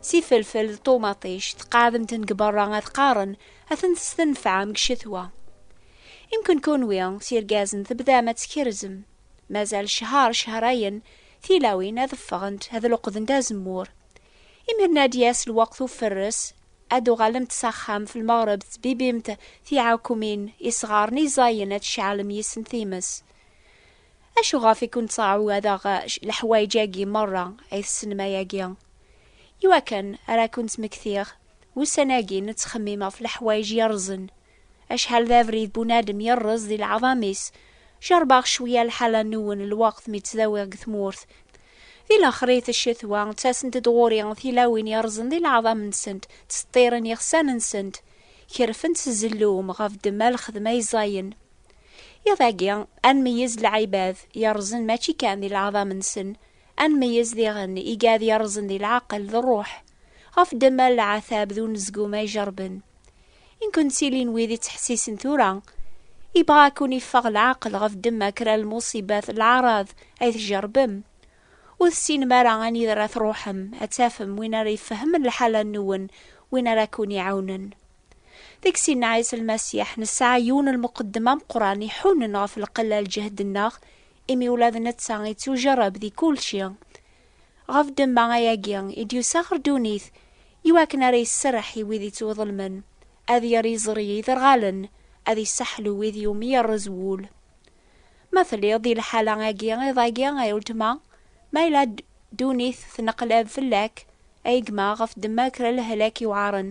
s ifelfel d ṭumaṭic tqeɛdemt-ten deg berra ad qqaren ad ten-testenfɛem deg ccetwa. Imken kunwi s irgazen tebdam ad tkerzem, mazal ccher cehrayen tilawin ad ffɣent ad luqdent azemmur. Imiren ad d-yas lweqt ufferres, ad d-uɣalemt s axxam f lmeɣreb tettbibimt tiɛekumin, isɣaren, iẓayen ad tceɛlem yis-sen times. Acuɣef i kent-ttɛawadeɣ leḥwayeǧ-agi merra ay tessnem ayagi? Iwakken ara kent-ttmektiɣ, ussan-agi nettxemmim ɣef leḥwayeǧ yerrẓen. Acḥal d abrid bunadem yerreẓ di leɛḍam-is! Jeṛbeɣ cwiya lḥala-nwen lweqt mi ttdawiɣ deg tmurt. Di lexrit n ccetwa, ttasent-d ɣur-i tilawin yerrẓen di leɛḍam-nsent, ttseḍḍiren iɣsan-nsent, kerfent s zzellum ɣef ddemma lxedma ay ẓẓayen. Iḍ agi, ad nmeyyez lɛibad yerrẓen mačči kan di leɛḍam-nsen, ad nmeyyez diɣen igad yerrẓen di leɛqel d ṛṛuḥ, ɣef ddemma n leɛtab d unezgum ay jerrben. I nkun ttilin wid ittḥessisen tura? Ibɣa ad ken-iffeɣ leɛqel ɣef ddemma kra n lmuṣibat, leɛraḍ, ay tjerrbem? Ur tessinem ara anida ara tṛuḥem, ad tafem win ara ifehmen lḥala-nwen, win ara ken-iɛawnen. Deg sin Ɛisa Lmasiḥ, nesɛa yiwen n lmuqeddem ameqqran iḥunen ɣef lqella n lǧehd-nneɣ, imi ula d netta yettujerreb di kulci. Ɣef ddemma ayagi i d-yusa ɣer ddunit, iwakken ara iserreḥ i wid yettwaḍelmen, ad yerr iẓri i yiderɣalen, ad isseḥlu wid iwumi yerrez wul. Ma telliḍ di lḥala agi iḍ-agi ay uletma, ma yella ddunit tneqlab fell-ak, ay gma, ɣef ddemma kra lehlak yewɛaren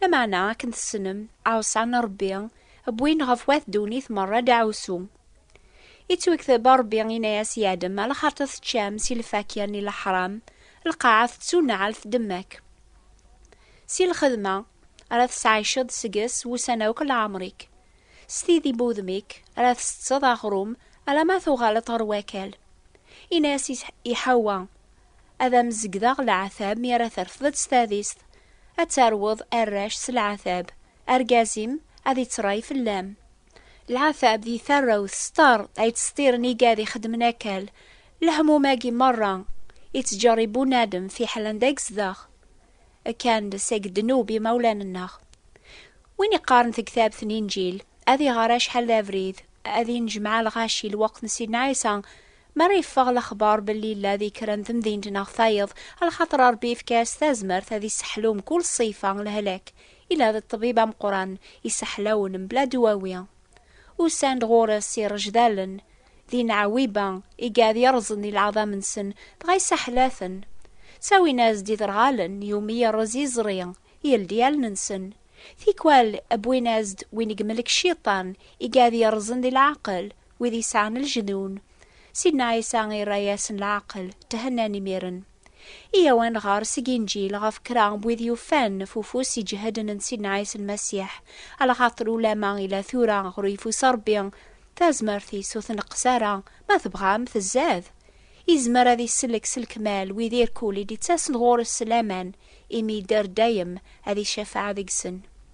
Lameɛna akken tessnem, ɛusa n Ṛebbi, wwin ɣef wat ddunit meṛṛa deɛɛusu. Ittwekteb Ṛebbi inna-yas i Adem, Alaxaṛt teččam si lfakya n leḥṛam, lqaɛa tettuneɛl tdemmak. Si lxedma, ara tesɛiceḍ seg-s wussan akk n leɛmeṛ-ik. S tidi n wudem-ik, ara tsetteḍ aɣṛum alamma tuɣaleḍ ɣer wakal. Inna-yas i Ḥewwa, ad am-zegdeɣ leɛtab mi ara terfdeḍ s tadist, ad terweḍ arrac s leɛtab, argaz-im ad ittray fell-am. Leɛtab di tarrawt s tar ay ttseṭṭiren igad ixeddmen akal, lehmum-agi merra ittjerrib bunadem fiḥel anda i yezdeɣ. Akka ndes ag ddnub imawlan-nneɣ. Win iqqaren tegtabt n Inǧil, ad iɣer acḥal d abrid, ad inejmaɛ lɣaci lweqt n Sidna Ɛisa, mi ara yeffeɣ lexbar belli yella di kra n temdint neɣ tayeḍ, lxaṭer Rebbi yefka-as tazmert ad isseḥlu mkul ṣṣifa n lehlak, yella d ṭṭbib ameqqran, isseḥlawen mebla dwawi. Usan-d ɣur-s irejdalen d inɛawiba i iɛad yerẓen i leɛḍam-nsen, dɣa isaḥel-aten. Ttawin-as-d iderɣalen iwumi yerreẓ yiẓri, yeldi allen-nsen. Tikwal wwin-as-d win i yemlek Cciṭan i iɛad yerẓen di leɛqel wid yesɛan lejnun. Sidna Ɛisa irra-yasen leɛqel, thennan imiren. Iyaw ad nɣer seg Inǧil ɣef kra n wid yufan f ufus iǧehden n Sidna Ɛisa Lmasiḥ, lxaṭer ulamma ila tura ɣer uyeffus Ṛebbi, tazmert-is ur tneqqes ara, ma tebɣam tzad. Izmer ad isellek s lekmal wid irkul i d-ittasen ɣur-s s laman, imi yedder dayem, ad icafeɛ deg-sen.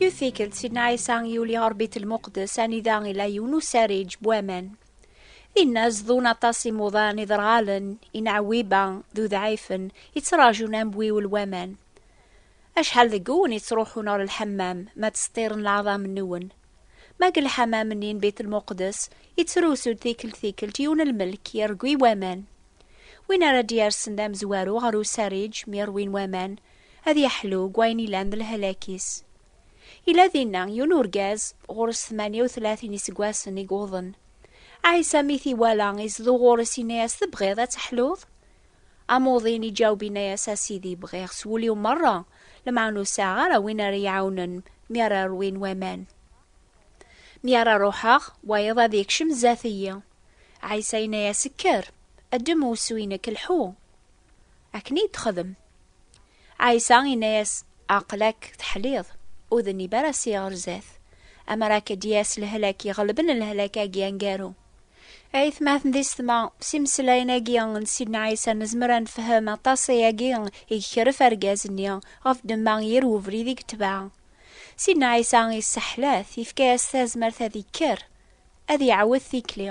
Yiwet tikkelt, Sidna Ɛisa yuli ɣer Bit Lmuqdes, anida ila yiwen usariǧ n waman. Dinna zdun aṭas imuḍan iderɣalen, inɛewwiba d udɛifen, yettraǧun ambiwel n waman. Acḥal deg-wen yettruḥun ɣer lḥemmam, ma ttseṭṭiren leɛḍam-nwen? Ma deg lḥamam-nni n Bit Lmuqdes, yettrusu-d tikkelt tikkelt yiwen lmelk yergwi waman. Win ara d-yersen d amezwaru ɣer usariǧ mi rwin waman, Ad yeḥlu deg wayen ilan d lehlak-is. Yella dinna yiwen urgaz ɣur-s tmanya u tlatin iseggasen i yuḍen. Ɛisa mi t-iwala izdew ɣur-s yenna-yas, Tebɣiḍ ad teḥluḍ? Amuḍin iǧaweb yenna-yas, A Sidi, bɣiɣ s wul-iw merra, lemɛun ur sɛiɣ ara win ara yi-iɛawnen mi ara rwin waman. Mi ara ruḥeɣ, wayeḍ ad yekcem zdat-iyi. Ɛisa yenna-yas, Kker, ddem usu-inek, lḥu! Akken i d-texdem. Ɛisa inna-yas, Aql-ak teḥliḍ, ur d nib ara si ɣer zdat, amer akka d-yas lehlak iɣelben lehlak-agi angaru. Aytmaten di setma, s imeslayen-agi n Sidna Ɛisa nezmer ad nefhem aṭas ayagi i yekref argaz-nni ɣef ddemma yir webrid i yetbeɛ. Sidna Ɛisa yesseḥla-t, yefka-yas tazmert ad ikker, ad iɛawed tikli.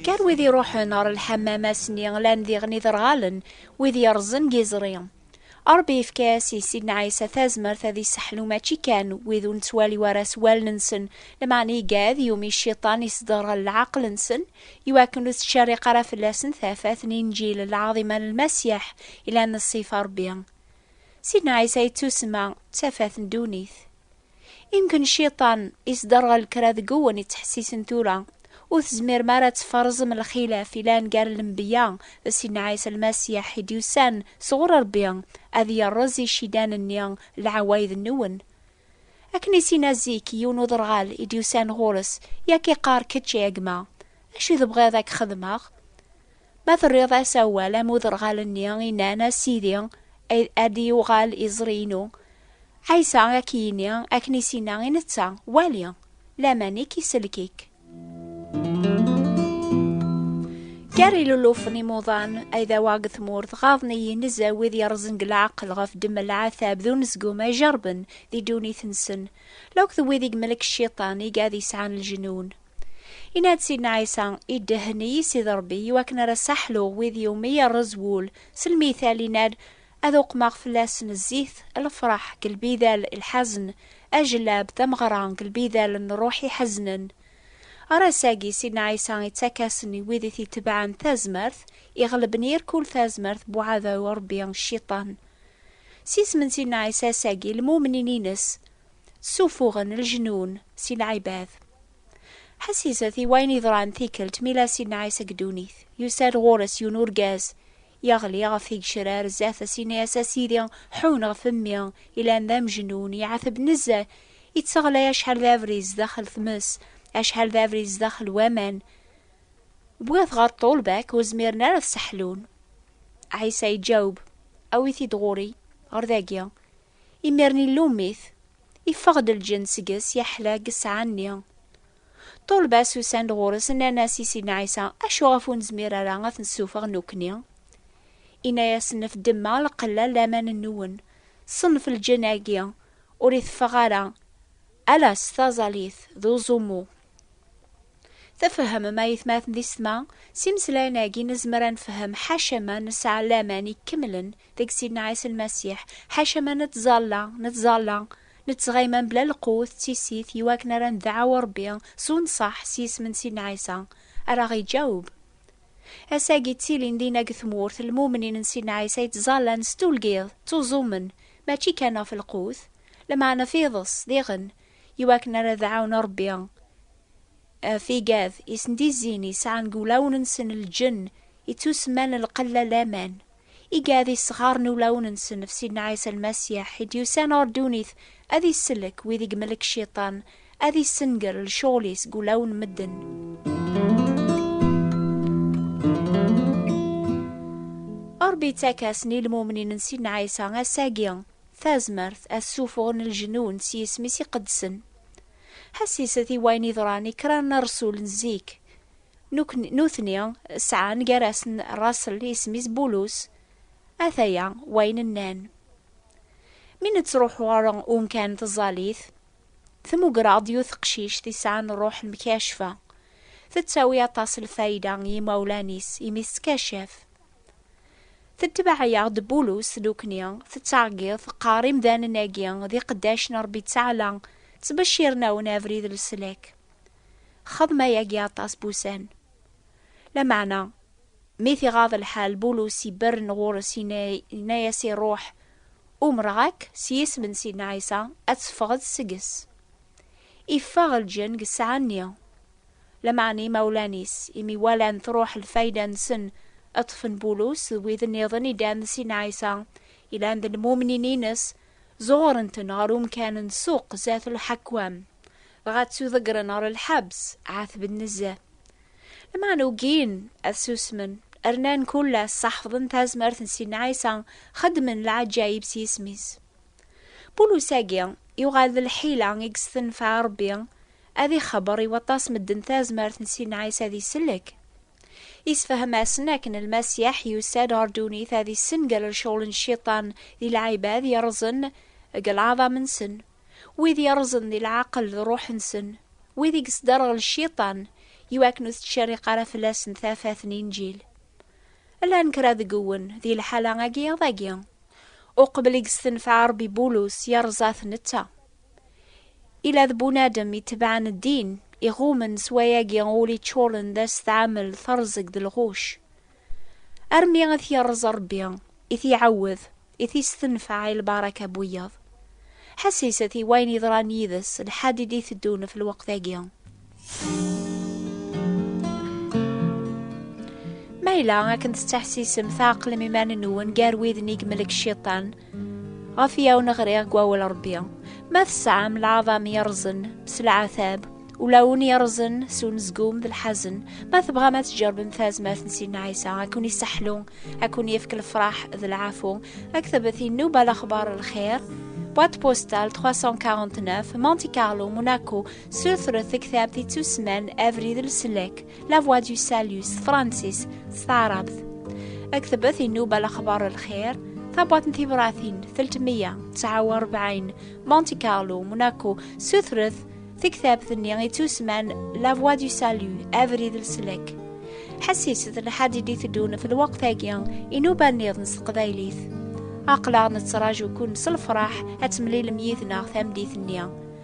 Kker wid iruḥen ɣer lḥammam ass-nni lan diɣen iderɣalen, wid yerrẓen deg iẓri. Ṛebbi yefka-as i Sidna Ɛisa tazmert ad isseḥlu mačči kan wid ur nettwali ara s wallen-nsen, lameɛna iga ad yumi Cciṭan isderɣel leɛqel-nsen, iwakken ur tettcerriq ara fell-asen tafat n Inǧil lɛaḍima n Lmasiḥ ilan ṣṣifa n Ṛebbi. Sidna Ɛisa yettusma d tafat n ddunit. Imken cciṭan isderɣel kra deg wwen ittḥessisen tura, ur tezmirem ara ad tferẓem lxilaf ilan gar lembeyya d Sidna Ɛisa Lmasiḥ i d-yusan sɣur Rebbi ad yerreẓ icidan-nni lɛawayed-nwen. Akken i s-inna zik yiwen uderɣal i d-yusan ɣur-s, i ak-iqqar, Kečč, a gma, acu tebɣiḍ ad k-xedmeɣ? Ma terriḍ-as awal am uderɣal-nni i nnan, A Sidi, ad d-yuɣal iẓri-inu, Ɛisa ad k-yini akken i s-yenna i netta, Wali! Laman i k-isellek-ik. Gar ilulufen imuḍan ay d awaɣ deg tmurt, ɣaḍen-iyi nezzeh wid yerrẓen deg leɛqel ɣef ddemma n leɛtab d unezgum ay jerrben di ddunit-nsen, la akk d wid i yemlek Cciṭan, igad yesɛan lejnun. Inna-d Sidna Ɛisa, Iddehhen-iyi Sidi Ṛebbi i wakken ara ssaḥluɣ wid i wumi yerreẓ wul, s lmital inna-d, Ad uqmeɣ fell-asen zzit, lefṛeḥ, deg lbidal, lḥazen, ajellab, tameɣra, deg lbidal n ṛṛuḥ iḥeznen. Ɣer ass-agi, Sidna Ɛisa ittak-asen i wid i t-itebɛen tazmert, iɣleb n yir kul tazmert n uɛdaw n Ṛebbi, cciṭan. S yisem n Sidna Ɛisa ass-agi, lmumnin-ines ssuffuɣen leǧnun si lɛibad. Ḥessiset i wayen yeḍran tikkelt mi la Sidna Ɛisa deg ddunit. Yusa-d ɣur-s yiwen urgaz, yeɣli ɣef tigecrar zdat-s, yenna-as, A Sidi, ḥunn ɣef mmi, yellan d amejnun, yeɛteb nezzeh, yetteɣlay acḥal d abrid zdaxel tmes, acḥal d abrid zdaxel waman. Wwiɣ-t ɣer ṭṭulba-k, ur zmiren ara ad t-sseḥlun. Ɛisa iǧaweb, Awi-t-id ɣur-i, ɣer dagi. Imiren illum-it, iffeɣ-d lǧenn seg-s, yeḥla deg ssaɛa-nni. Ṭṭulba-s usan-d ɣur-s, nnan-as i Sidna Ɛisa, Acu ɣef ur nezmir ara ad t-nessufeɣ nekkni? Inna-yasen, Af ddemma lqella n laman-nwen, ṣṣenf lǧenn-agi ur iteffeɣ ara, ala s taẓallit d uẓummu. Tfehmem a yetmaten di setma? S imeslayen-agi nezmer a nefhem ḥaca ma nesɛa laman ikemlen deg Sidna Ɛisa Lmasiḥ, ḥaca ma nettẓalla, nettẓalla, nettɣima mebla lqut d tissit i wakken ara ndeɛɛu Rebbi s unṣaḥ s yisem n Sidna Ɛisa, ara aɣ-iǧaweb. Ass-agi ttilin dinna deg tmurt lmumnin n Sidna Ɛisa yettẓallan s tulgiḍ, ttuẓumen, mačči kan ɣef lqut, lameɛna ɣef iḍes, diɣen, iwakken ara d ɛawnen Rebbi ɣef igad i sen-d-izzin i sɛan deg wulawen-nsen lǧenn i ttusemman lqella laman, igad i sɣaren ulawen-nsen ɣef Sidna Ɛisa Lmasiḥ i d-yusan ɣer ddunit ad isellek wid i yemlek Cciṭan, ad issenger lecɣel-is deg wulawen n medden. Rebbi yettak-asen i lmumnin n Sidna Ɛisa ass-agi. Tazmert ad ssufɣen lejnun s yisem-is iqedsen. Ḥesset i wayen yeḍran i kra n rresul n zik. Nutni sɛan gar-asen rraṣel isem-is Bulus. Ataya wayen nnan. Mi nettruḥu ɣer umkan n tẓallit, tmugger-aɣ-d yiwet teqcict i sɛan rruḥ n Mkacfa. Tettawi aṭas n lfayda i yimawlan-is imi tettkacafe. Tetbeɛ-yaɣ-d Bulus nekni, tettɛeggiḍ, teqqar imdanen-agi d iqeddac n Rebbi Ttaɛla, ttbecciren-awen abrid n leslak. Xdem ayagi aṭas n wussan. Lameɛna, mi t-iɣaḍ lḥal, Bulus iberren ɣur-s yenna-yas i Ṛuḥ, Umreɣ-ak s yisem n Sidna Ɛisa ad teffɣeḍ seg-s. Iffeɣ lǧenn deg ssaɛa-nni. lameɛna imawlan-is, imi walan truḥ lfayda-nsen, ad ṭṭfen Bulus d wid nniḍen idan d Sin Ɛisa, yellan d lmumnin-ines, zuɣren-ten ɣer umkan n ssuq zdat lḥakwam, dɣa ttuḍeggren ɣer lḥebs, ɛatben nezzeh. Lameɛna ugin ad susmen, rnan kullas, ḥefḍen tazmert n Sin Ɛisa, xeddmen lɛaǧayib s yisem-is. Bulus-agi, yuɣal d lḥila i yestenfeɛ Rebbi, Ad ixebber i waṭas medden tazmert n Sidna Ɛisa ad isellek. Isefhem-asen akken Lmasiḥ yusa-d ɣer ddunit ad issengal lecɣel n Cciṭan di lɛibad yerrẓen deg lɛaḍam-nsen, wid yerrẓen di leɛqel d ṛṛuḥ-nsen, wid i yesderɣel Cciṭan, iwakken ur tettcerriq ara fell-asen tafat n Inǧil. Llan kra deg wwen di lḥala-agi iḍ-agi. Uqbel i yessenfeɛ Ṛebbi Bulus, yerẓa-t netta. Ila d bunadem itebɛen ddin, iɣummen s wayagi ul iččuren d asetɛamel, teṛẓeg d lɣuc. Armi i t-yeṛẓ Ṛebbi, i t-iɛawed, i t-istenfeɛ i lbaraka n wiyaḍ. Ḥesset i wayen yeḍran yid-s lḥad i d-iteddun ɣef lweqt-agi. Ma yella akken tettḥessisem tɛeqlem iman-nwen gar widen i yemlek cciṭan, ɣef yiwen ɣriɣ deg wawal Rebbi, ma tesɛam lɛaḍam yerrẓen s lɛatab, ula ul yerrẓen s unezgum d lḥazen, ma tebɣam ad tjerbem tazmert n Sidna Ɛisa, ad ken-iseḥlu, ad ken-yefk lefraḥ d lɛafu, aktebet inuba lexbar lxir, boîte postale 349 Monte Carlo, Monaco, Sutret taktabt ittusman Abrid Leslak, La Voix du Salut, s tefransist, s taɛrabt. Aktebet inuba lexbar lxir, tabwat n tibratin 349 Monte Carlo, Monaco, sutret taktabt-nni ittusman La Voix du Salut, Abrid Leslak. Ḥessiset lḥad i d-iteddun f lweqt-agi inuba-nniḍen s teqbaylit. Aqlaɣ nettraǧu-ken s lefraḥ ad temlilem yid-neɣ tameddit-nni.